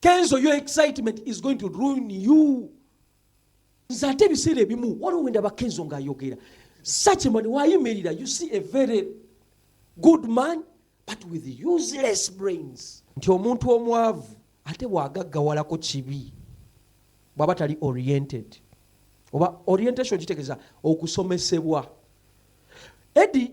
kenzo your excitement is going to ruin you nze ate ebiseera ebimu waliwo wendaba kenzo ng'ayogera such man wayimirira you see a very good man but with useless brains nti omuntu omwavu ate bwagaggawalako kibi bwaba tali oriented oba orientation kitegeeza okusomesebwa edi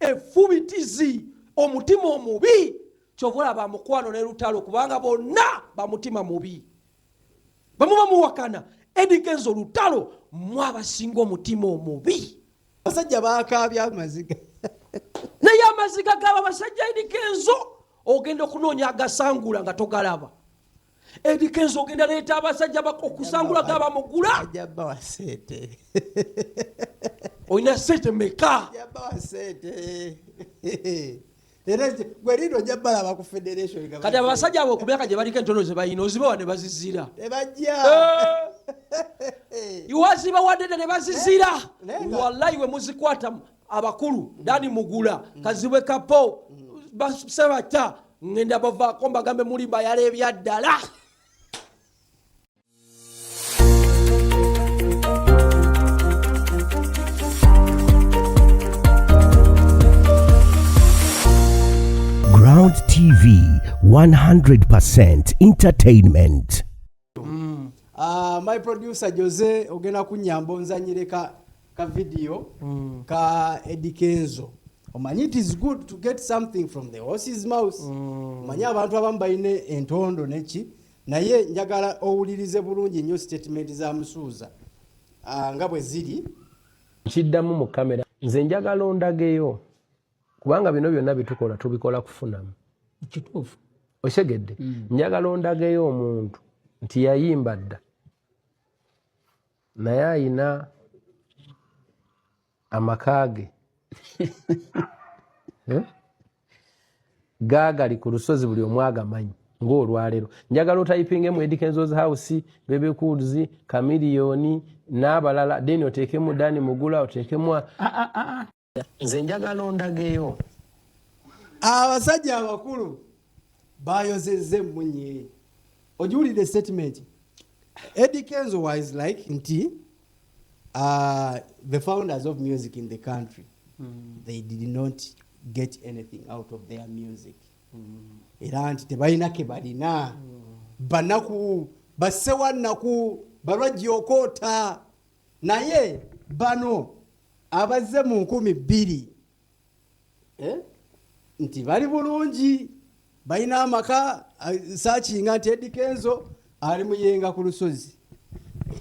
Effubitizi, omutima omubi, kyova olaba mukwano ne lutalo kubanga bonna bamutima mubi bamu bamuwakana edikenzo lutalo mwe abasinga omutima omubi abasajja bakaabya amaziga naye amaziga gaba basajja edikenzo ogenda okunoonya agasangula nga togalaba Eddie Kenzo ogenda leeta abasajja okusangula ga bamugula ajja bawa sente olina sente meka ajja bawa sente era gwe lindo ojja balaba ku federation kati abasajja abo ku myaka gye baliko entono ze balina ozibawa ne bazizira tebajja iwazibawadede ne bazizira wallayi we muzikwatamu abakulu dani mugula kazibwe kapo basebata ngenda bavaako mbagambe mulimba yala ebyaddala Ground TV 100% entertainment. mm. uh, my producer jose ogenda kunyamba onzanyire ka, ka video mm. ka edikenzo omanyi it is good to get something from the horses mouse mm. omanyi mm. abantu abamu balina entondo neki naye njagala owulirize bulungi nnyo statement za musuuza uh, nga bwe ziri kiddamu mu kamera nze njagala ondageyo kubanga bino byonna byetukola tubikola kufunamu kituufu okitegedde mm. njagala ondageyo omuntu nti yayimba dda naye ayina amaka ge eh? gaagali ku lusozi buli omu agamanyi ngaolwaleero njagala otayipinga emu edikensos house bebecools kamiliyoni n'abalala deni oteekemu dani mugula oteekemu nze njagala ondageyo abasajja abakulu bayozezza emmunye ogiwulidde statement eddie kenzo wise like nti uh, the founders of music in the country mm. they did not get anything out of their music mm. era nti tebalina ke balina mm. banaku basewannaku balwajja okoota naye bano abazze mu nkumi bbiri eh, nti bali bulungi balina amaka sakinga nti edikenzo ali muyenga ku lusozi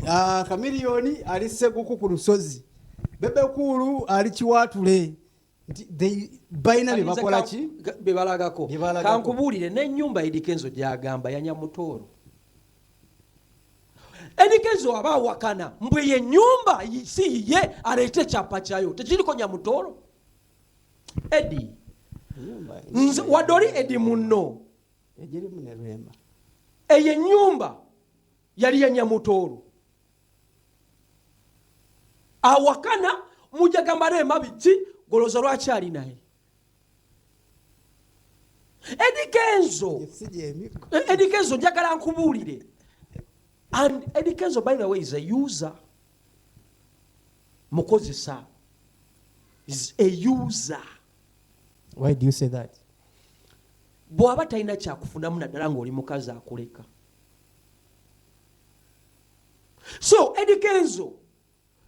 ah, kamiliyoni ali seguku ku lusozi bebekuulu ali kiwaatule balina byebakolaki bebalagako kankubuulire n'enyumba edikenzo gyagamba yanya mutooro edikenzo aba awakana mbwe ye nyumba si yiye aleeta ekyapa kyayo tekiriko nya mutooro edi wadde oli edi munno eyo enyumba yali yanyamutooro awakana mujagamba rema biki goloza lwaki ali naye edikenzo edikenzo eh, njagala nkubuulire and edikenzo by the way is a user mukozesa is a user why do you say that bw'aba talina kyakufunamu naddala ng'oli mukazi akuleka so edikenzo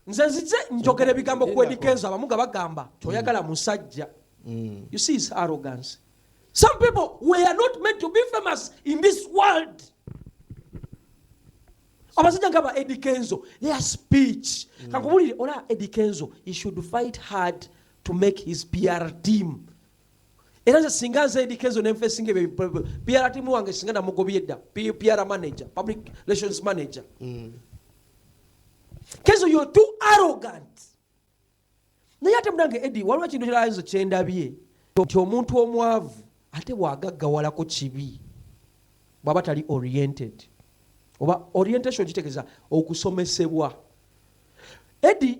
nze nzize njogera ebigambo ku edikenzo abamu nga bagamba toyagala musajja mm. you see his arrogance some people were not meant to be famous in this world abasajja nga ba edikenzo their speech mm. kankubulire ola edikenzo he should fight hard to make his pr team era nze singa nze edika ezo nenfesinga ebyo pr timu wange singa namugobye dda pr manager public relations manager mm. kezo yo too arrogant naye ate munange edi waliwo ekintu kirayenzo kyendabye nti omuntu omwavu ate bwagaggawalako kibi bwaba tali oriented oba orientation kitegeeza okusomesebwa edi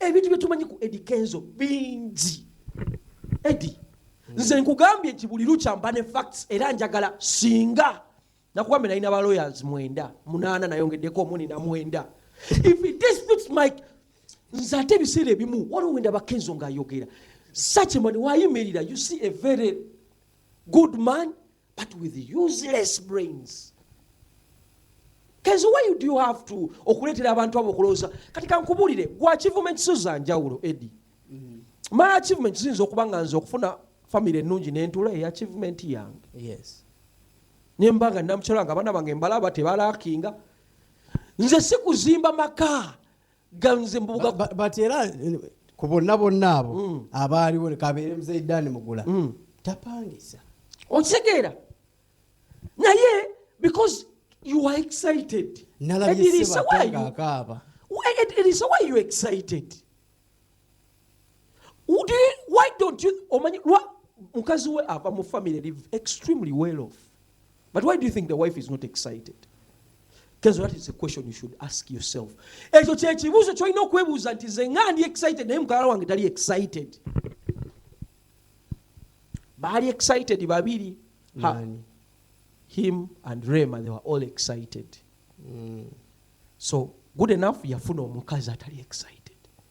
ebintu byetumanyi ku edi kenzo bingi edi nze nkugambye nti buli lukya mba ne facts era njagala singa nakugambye nalina ba lawyers mwenda munaana nayongeddeko omuni na mwenda if it disputes mike nze ate ebiseera ebimu waliwo wenda bakenzo ngaayogera such a man wayimirira you see a very good man but with useless brains kenzi why do you have to okuleetera abantu abo okulowooza kati kankubulire gwa achievement zo za njawulo edi mm. my achievement ziyinza okuba nga nze okufuna famiry ennungi nentula eyo achievement yange yes. nemba nga namukyala nga abaana bange mbalaba tebalakinga nze sikuzimba maka nga nze mbubuga Ba- ba- but era eh, ku bonna bonna abo Mm. abaaliwo kabeere muzaidaani mugula Mm. tapangisa okitegeera naye because you are excited nalabye Edirisa, why sebata you- ng'akaaba why- Ed- Edirisa, why you excited omanyi mukazi we ava mu family live extremely well off but why do you think the wife is not excited kezo that is a question you should ask yourself ekyo kyekibuuzo kyolina okwebuuza nti ze nga ndi excited naye mukalala wange tali excited baali excited babiri him and rema they were all excited mm. so good enough yafuna omukazi atali excited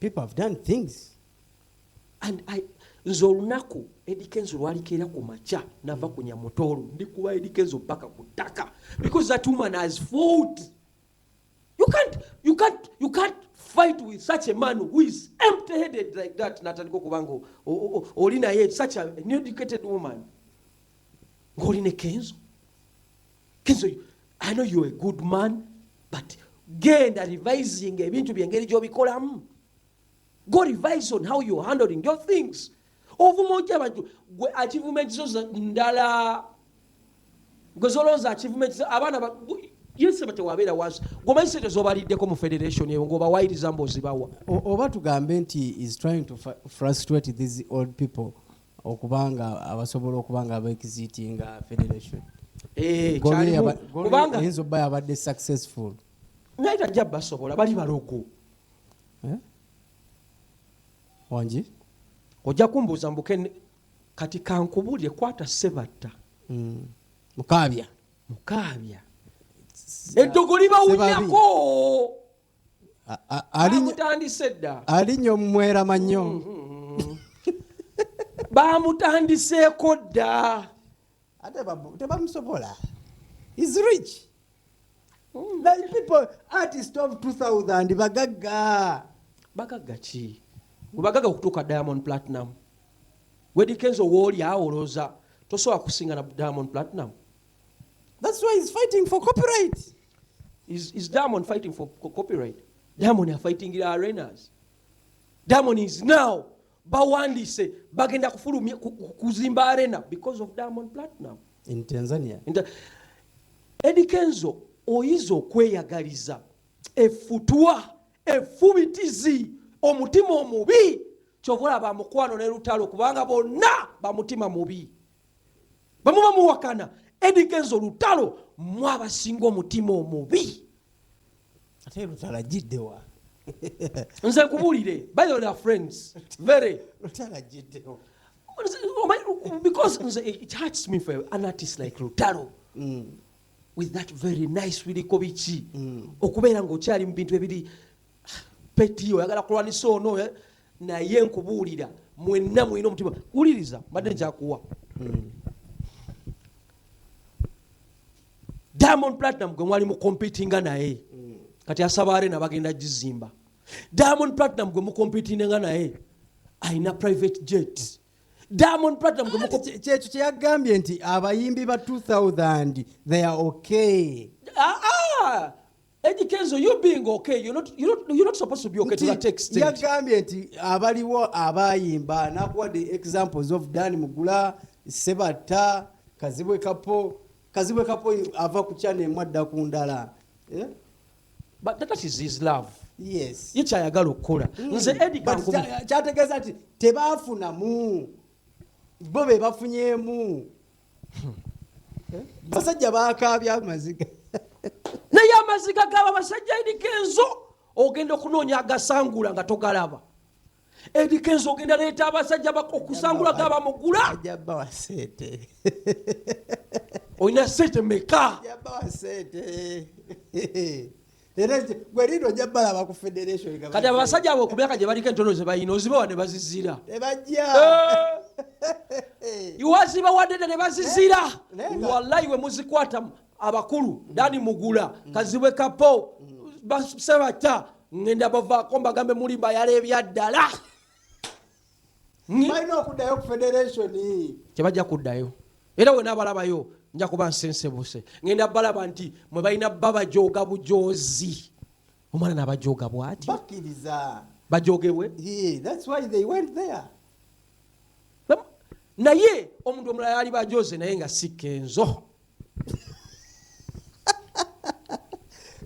people have done things and i nze olunaku edikenzo lwalikeera ku makya nava ku nyamutoolo ndikuba edikenzo paka ku ttaka because that woman has fought you can't, you can't, you can't fight with such a man who is empty headed like that natandika okuba nga oli naye such a educated woman ng'oli ne kenzo kenzo i know you're a good man but genda revising ebintu byengeri gyobikolamu go revise on how you're handling your things ovuma otya abantu gwe achievement zo ndala gwe zolowooza achievement zo abaana ba- gwe- yesu batewabeera wansi gwomanyi sente zobaliddeko mu federation eyo ngaobawayiriza mbozibawa O- oba tugambe nti is trying to fr- frustrate these old people okuba nga abasobola okuba nga abaexiting nga federation eh, kubanga eyinza obba yabadde successful naye tajja basobola bali balogo eh? wangi ojja kumbuuza mbuke kati kankubulire kwata sebatta hmm. mukaabya mukaabya eddogo libawunyako bamutandise dda alinya omumwerama nnyo mm, mm, mm. bamutandiseeko dda ate tebamusobola is rich like people artist of 2000 bagagga bagagga ki webagagga okutuuka diamond platinum wedikenzo wooli awoloza tosobola kusinga na diamond platinum thats why is fighting for copyright Is, is Diamond fighting for copyright? Diamond are fighting the arenas. Diamond is now bawandise bagenda kufulumya kuzimba arena because of Diamond Platinum in Tanzania. In ta Eddie Kenzo oyiza okweyagaliza efutwa efubitizi omutima omubi kyovola ba mukwano ne lutalo kubanga bonna bamutima mubi bamuba muwakana edigenza olutalo mwe abasinga omutima omubi ate lutalagiddewa nze nkubulire by the way, they are friends very lutalagiddewa because nze it hurts me for an artist like lutalo Mm. with that very nice biriko biki Mm. okubeera ngaokyali mu bintu ebiri peti oyagala kulwanisa ono eh? naye nkubuulira mwenna mulina omutima wuliriza mbadde njakuwa hmm. diamond platinum gwe mwali mukompitinga naye hmm. kati asaba arena bagenda gizimba diamond platinum gwe mukompitinga naye alina private jet diamond platinum kyekyo kyeyagambye nti abayimbi ba 2000 they are okay ah, ah. Eddie Kenzo, you being okay, you're not, you're not, you're not supposed to be okay to that extent. Yagambye nti abaliwo abayimba nakuwa the examples of Dan Mugula, Sebatta, Kazibwe Kapo, Kazibwe Kapo ava ku channel mwadda ku ndala. Yeah? But that is his love. Yes. Ye kyayagala okukola. Mm. Nze Eddie Kanko. Kyategeeza nti tebaafunamu. Bo be bafunyemu. basajja bakaabya amaziga naye amaziga gaba basajja eriko enzo ogenda okunoonya agasangula nga togalaba eriko enzo ogenda leeta abasajja okusangula gaba mugula olina sente meka era gwe lindo ojja balaba ku federation kati abasajja abo ku myaka gye baliko entono ze balina ozibawa ne bazizira tebajja eh. iwazibawadede ne bazizira eh, wallayi we muzikwatamu abakulu dani mugula mm. kazibwe kapo mm. basebata ngenda bavaako mbagambe mulimba yala ebyaddala hmm? balina okuddayo ku federation kyebajja kuddayo era wena abalabayo nja kuba nsensebuse ngenda balaba nti mwe balina bba bajooga bujoozi omwana nabajooga bwati bakkiriza bajogebwe naye omuntu omulala yali bajoze naye nga si kenzo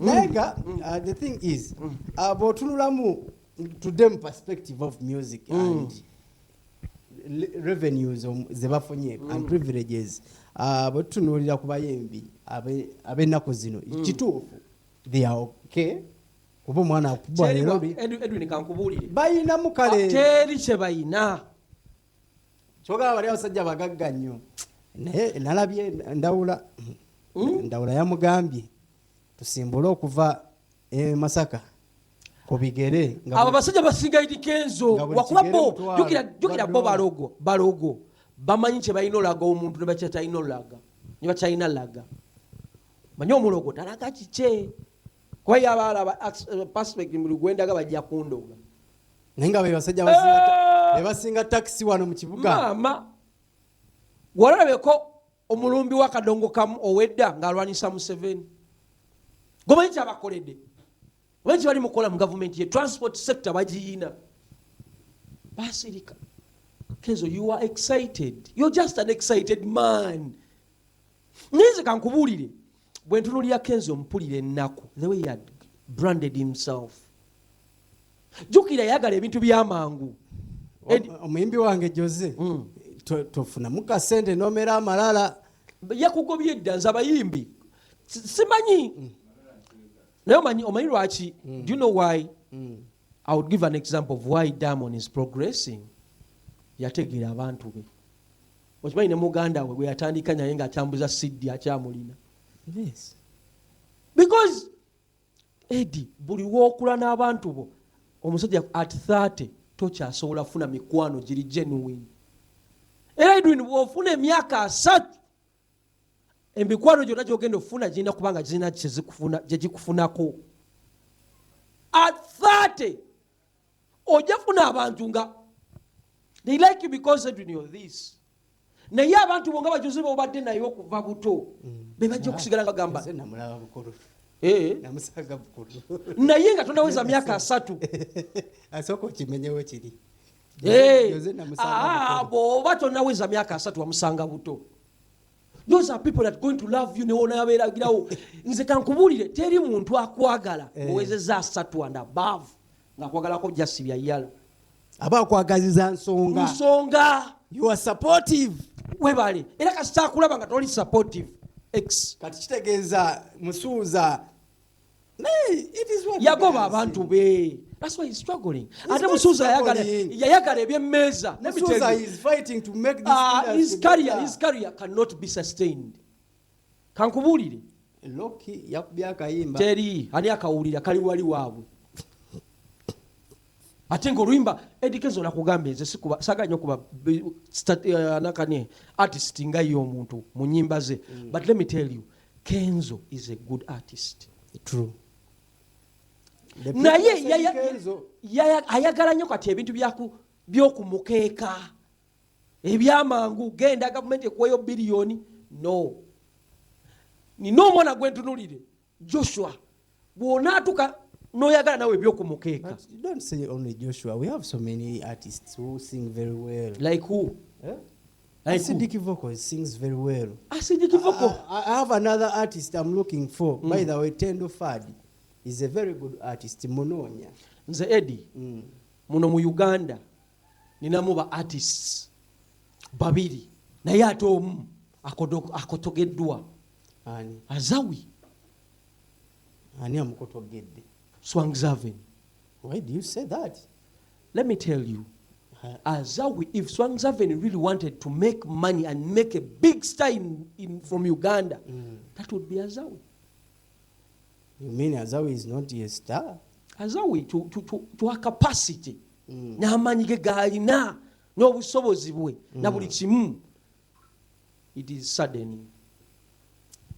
naye nga mm. uh, the thing is mm. uh, bwotunulamu to them perspective of music mm. and revenues um, zebafunye mm. and privileges uh, bwetutunuulira ku bayembi ab'ennaku zino mm. kituufu they are okay kuba omwana akubwa leero balinamu kale ah, teri kye balina kyogaba bali abasajja bagagga nnyo naye nalabye ndawula hmm? ndawula yamugambye tusimbule okuva e masaka kubigere abo basajja basinga idikenzo wakuba bo jukira bo balogo balogo bamanyi kyebalina olaga omuntu nebakyatalina olaga nebakyalina laga manyi omulogo talaga kikye kuba yaba alaba eh, perspect muli gwendaga bajja kundoga naye nga bebasajja ah! bebasinga takisi wano mu kibuga maama walabeko omulumbi wakadongo kamu owedda ng'alwanyisa museveni gomanyi kyabakoledde omanyi kyebali mukola mu gavumenti ye transport sector bagiyina basirika kenzo you are excited you're just an excited man naye nze kankubuulire Bwentunulira Kenzo mpulira ennaku the way he had branded himself. Jukira yagala ebintu byamangu. Omuyimbi wange Jose mm. tofunamu kasente nomera amalala yakugobye edda nze abayimbi simanyi mm. naye omanyi omanyi lwaki mm. do you know why mm. i would give an example of why diamond is progressing yategeera abantu be okimanyi ne muganda we gweyatandika naye nga atambuza siddi akyamulina yes. because edi buli wokula n'abantu bo omusajja at 30 tokyasobola kufuna mikwano giri genuine era edwin bwofuna emyaka asatu emikwano gyonna gyogenda okufuna girina kubanga girina gyegikufunako at 30 ojja funa abantu nga they like you because edwin you're this naye abantu bonga bajuze bobadde naye okuva buto mm. bebajja okusigala nga gamba eh. naye nga tondaweza myaka asatu asooka okimenyewo kiri eh. ah, bwoba tonaweza myaka asatu wamusanga buto those are people that going to love you newonayabeeragirawo nze kankubuulire teri muntu akwagala eh. owezeza asatu and above ngaakwagalako jasi byayala aba akwagaziza nsonga nsonga you are supportive webale era kasita akulaba nga toli supportive x kati kitegeeza musuuza yagoba abantu be That's why he's struggling. Ate Musuza ayagala yayagala ebyemmeeza. Musuza is fighting to make this uh, his career, his career cannot be sustained. Kankubuulire. Loki yakubya akayimba. Teri ani akawulira kali wali waabwe. Ate ng'oluyimba Eddie Kenzo nakugambye nze sikuba saga nnyo kuba uh, nakane artist nga ye omuntu mu nnyimba ze. Mm. But let me tell you kenzo is a good artist true naye ayagala nyo kati ebintu byokumukeeka ebyamangu genda gavumenti ekuweyo biliyoni no nina omwana gwentunulire joshua bw'onaatuka noyagala nawe ebyokumukeeka like who eh? Like acidic who? vocal sings very well acidic vocal I, I have another artist i'm looking for mm. by the way tendo fadi is a very good artist munonya nze edi mm. muno mu uganda ninamu ba artists babiri naye ate omu akotogeddwa azawi ani amukotoggedde swangzaven why do you say that let me tell you azawi if swangzaven really wanted to make money and make a big star in, in, from uganda mm. that would be azawi you mean azawi is not a star azawi to, to, to, to a capacity mm. n'amaanyi ge gaalina n'obusobozi bwe mm. na buli kimu it is sudden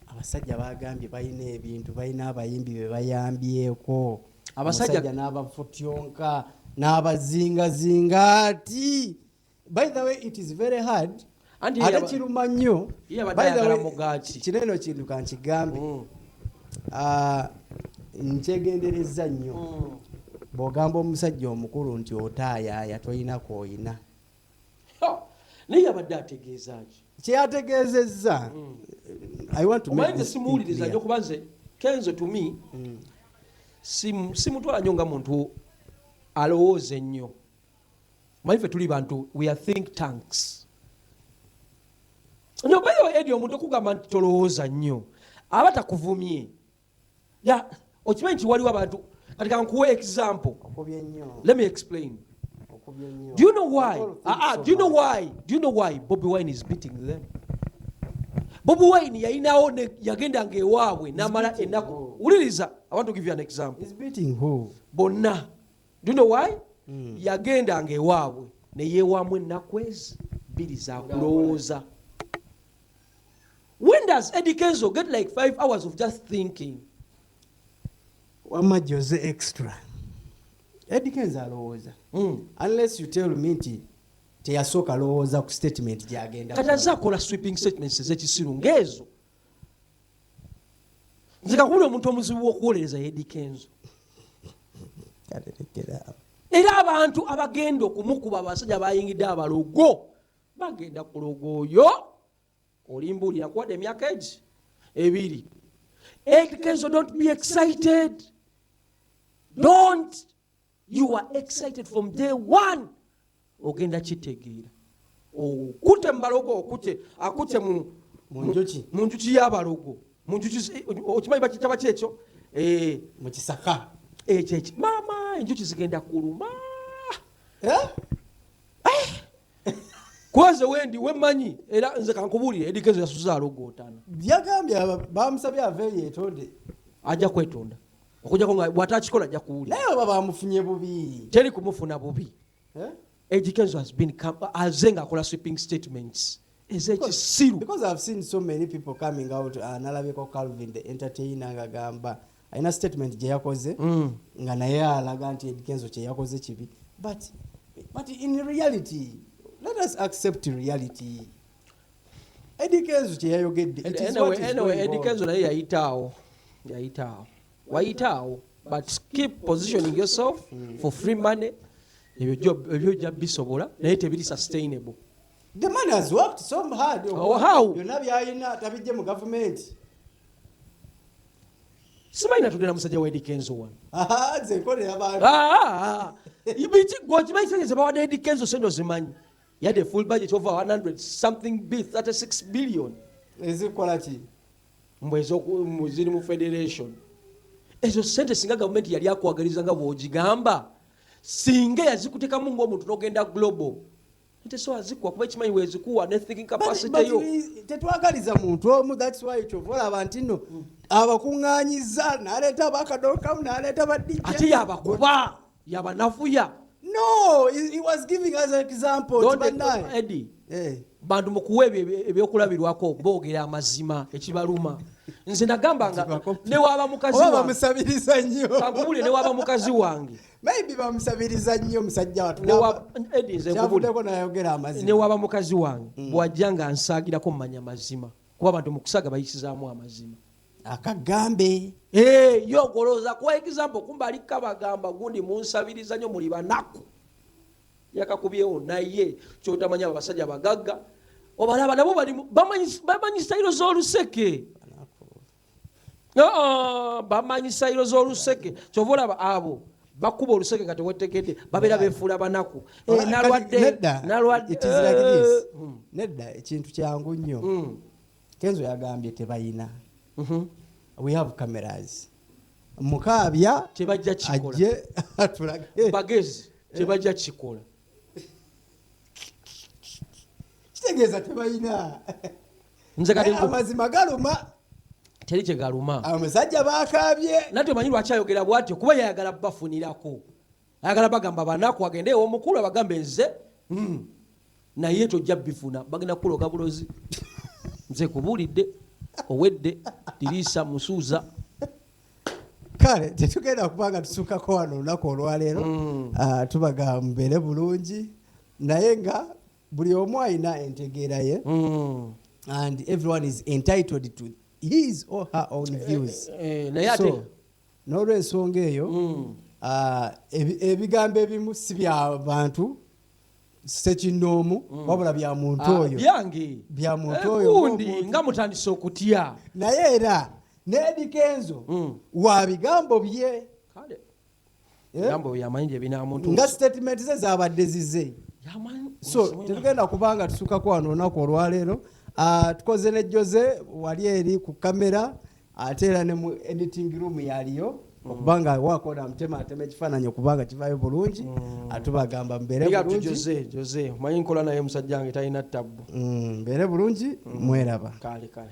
abasajja bagambye balina ebintu balina abayimbi bebayambyeko abasajja n'abafutyonka n'abazingazinga ati by the way it is very hard ate kiruma nnyo kino eno kintu kankigambe mm. ah, nkyegenderezza nnyo mm. bw'ogamba omusajja omukulu nti otaayaaya toyina kwoyina naye yabadde ategeeza ki kyeyategeezezza omanze simuwuliriza nyo kuba nze kenzo tumi mm. simutwala nyo nga muntu alowooza ennyo manyi fe tuli bantu we are think tanks nobayo edi omuntu okugamba nti tolowooza nnyo aba takuvumye ya okimanyi nti waliwo abantu kati kankuwa example let me explain do you know why ah, ah, do you know why do you know why bobi wine is beating them bobi wine yayinawo yagendanga ewaabwe namala enaku wuliriza i want to give you an example bonna do you know why mm. yagendanga ewaabwe neyewamu enaku ezi bbiri zakulowooza When does Eddie Kenzo get like five hours of just thinking? Wama Jose extra. Eddie Kenzo alowooza. Mm. Unless you tell me nti teyasooka alowooza ku statement gyagenda. Kati azze akola sweeping statements ez'ekisiru ng'ezo. Nze kakubira omuntu omuzibu w'okuwolereza Eddie Kenzo. Kalerekera. Era abantu abagenda okumukuba abasajja bayingidde abalogo. bagenda kuloga oyo olimbuulira kuwadde emyaka egi ebiri ekezo don't be excited don't you are excited from day one ogenda kitegeera okute mubalogo okute akute mu njuki yabalogo munjuki okimanyi bakitaba kyekyo eh, mukisaka ekyo eh, maama enjuki zigenda kuluma eh? kwanze wendi wemanyi era nze kankubulire edikezo yasuza alogootana yagambye bamusabye aveyo yetonde ajja kwetonda okujako nga bwata akikola ajja kuwulira naye oba bamufunye bubi teri kumufuna bubi eh? edikezo has been aze nga akola sweeping statements ezekisiru because i've seen so many people coming out uh, nalabyeko calvin the entertainer ngagamba alina statement gye yakoze mm. nga naye alaga nti edikenzo kye yakoze kibi but, but in reality let us accept reality edikenzo kye yayogedde edikenzo naye yayitaawo yayitaawo wayitaawo but keep positioning yourself mm. for free money ebyo jja bisobola naye tebiri sustainable The man has worked so hard. Oh, how? Byonna byayina tabijje mu gavumenti. Simanyi natudira musajja wa Eddy Kenzo wano. Aha, nze nkolera bantu. Ah, ah, ah. Ibiki gwokimanyi sente ze bawadde Eddy Kenzo sente ozimanyi. Yadde a full budget over 100 something b 36 billion. Ezikola ki? Mbu ezoku ziri mu federation. Ezo sente singa gavumenti yali akwagaliza nga bw'ogigamba singa yazikutekamu ng'omuntu n'ogenda global tesobola zikuwa kuba ekimanyi wezikuwa ne thinking capacity yo tetwagaliza muntu omu that's why kyova olaba nti no mm. abakuŋŋanyiza naleeta bakadokamu naleeta badija ate yabakuba yabanafuya no he was giving us an example edi eh. bantu mukuwa ebyokulabirwako boogera amazima ekibaluma nze nagamba nga newaba mukazi wange newaba mukazi wange maybe bamusabiriza nnyo musajja watu kyavuddeko nayogera amazima newaba mukazi wange mm. bwajja nga nsaagirako mumanya mazima kuba abantu mukusaga bayisizaamu amazima akagambe eh, yo ogolooza kuwa example kumba ali kabagamba gundi munsabiriza nyo muli banaku yakakubyewo naye kyotamanya abasajja bagagga obalaba nabo bamanyi sitayiro z'oluseke Ah, bamanyi sayiro z'oluseke kyova olaba abo bakuba oluseke nga tewetegedde babeera befuula banaku eh, nalwaddenedda eh, hmm. ekintu kyangu nnyo hmm. kenzo yagambye tebayina mhm. we have cameras mukaabya tebajja kikola ajje atulage bagezi tebajja kikola kitegeeza tebalina nze kati nku- amazima galuma teri kye galuma abasajja bakaabye nate omanyi lwaki ayogera bwatyo kuba yayagala bafunirako ayagala bagamba banaku agende ewomukulu abagambe nze mm, naye tojja bifuna bagenda kukuloga bulozi nze kubuulidde owedde diriisa musuuza kale tetugenda kuba nga tusukako wano olunaku olwaleero mm. ah, tubaga mubeere bulungi naye nga buli omu alina entegeera ye mm. and everyone is entitled to his or her own eh, views eh, eh, so n'olwensonga eyo mm. ah, ebigambo ebimu si bya bantu sekinoomu mm. wabula bya muntu ah, oyo byange bya muntu eh, oyo gundi nga mutandise okutya naye era n'ebikenzo mm. wa bigambo bye eh? nga sitatimenti ze zabadde zize so tetugenda kubanga tusukako wano olunaku olwaleero ah, tukoze ne jose wali eri ku kamera ate era ne mu editing room yaliyo mm. okuba nga wakola amutema atema ekifaananyi okuba nga kivayo bulungi mm. atubagamba mberemanyi nkola naye musajja wange talina ttabbu mm, mbeere bulungi mweraba kale kale